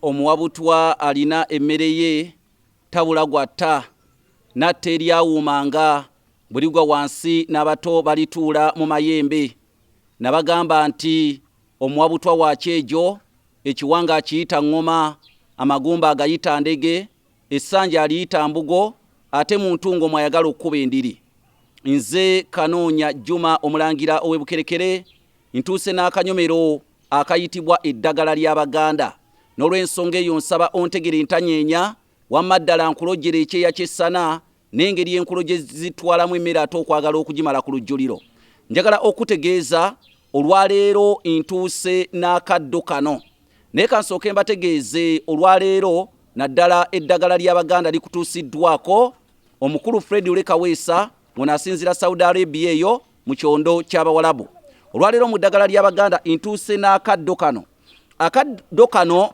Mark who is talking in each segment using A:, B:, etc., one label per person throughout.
A: Omuwa butwa alina emmere ye, tabula gw'atta, n'atta eryawuuma nga bwe ligwa wansi n'abato balituula mu mayembe. Nabagamba nti, Omuwa butwa wa kyejo, ekiwanga akiyita ŋŋoma, amagumba agayita ndege. Essanja aliyita mbugo ate mu ntungo mwayagala okukuba endiri. Nze Kanoonya Juma Omulangira ow'e Bukerekere ntuuse n'akanyomero akayitibwa eddagala ly'Abaganda n'olwensonga eyo nsaba ontegere ntanyeenya wamma ddala nkulojjere ekyeya ky'essana n'engeri enkulo gye zitwalamu emmere ate okwagala okugimala ku lujjuliro njagala okutegeeza olwaleero ntuuse n'akaddo kano naye kansooke mbategeeze olwaleero naddala eddagala ly'abaganda likutuusiddwako omukulu fred olekaweesa ngono asinzira saudi arabia eyo mu kyondo ky'abawalabu olwaleero mu ddagala ly'abaganda ntuuse n'akaddo kano akaddo kano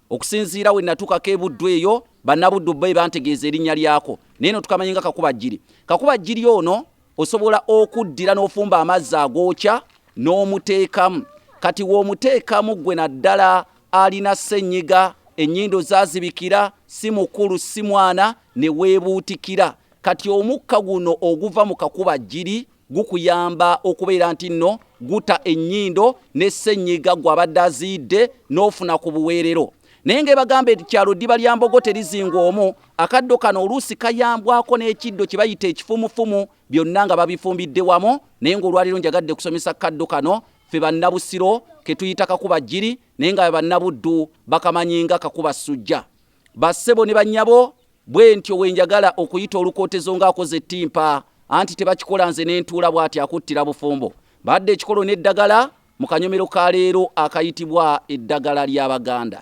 A: okusinziira we natuukako e buddu eyo bannabuddu be bantegeeza erinnya lyako naye notukamanye nga kakuba jjiri kakuba jjiri ono osobola okuddira n'ofumba amazzi agookya n'omuteekamu kati w'omuteekamu gwe naddala alina ssenyiga ennyindo zazibikira si mukulu si mwana ne weebuutikira kati omukka guno oguva mu kakuba jjiri gukuyamba okubeera nti nno guta ennyindo ne ssenyiga gw'abadde aziyidde n'ofuna ku buweerero naye nga ebagamba ekyalo ddiba lya mbogo terizingwa omu akaddo kano oluusi kayambwako n'ekiddo kye bayita ekifumufumu byonna nga babifumbidde wamu naye ng'olwaliro njagadde kusomesa kaddo kano ffe bannabusiro ke tuyita kakuba jjiri naye nga bannabuddu bakamanyi nga kakuba ssujja bassebo ne bannyabo bwentyo wenjagala okuyita olukootezo ng'akoze ettimpa anti tebakikola nze nentuula bw'ati akuttira bufumbo badde ekikolo n'eddagala mu kanyomero ka leero akayitibwa eddagala ly'abaganda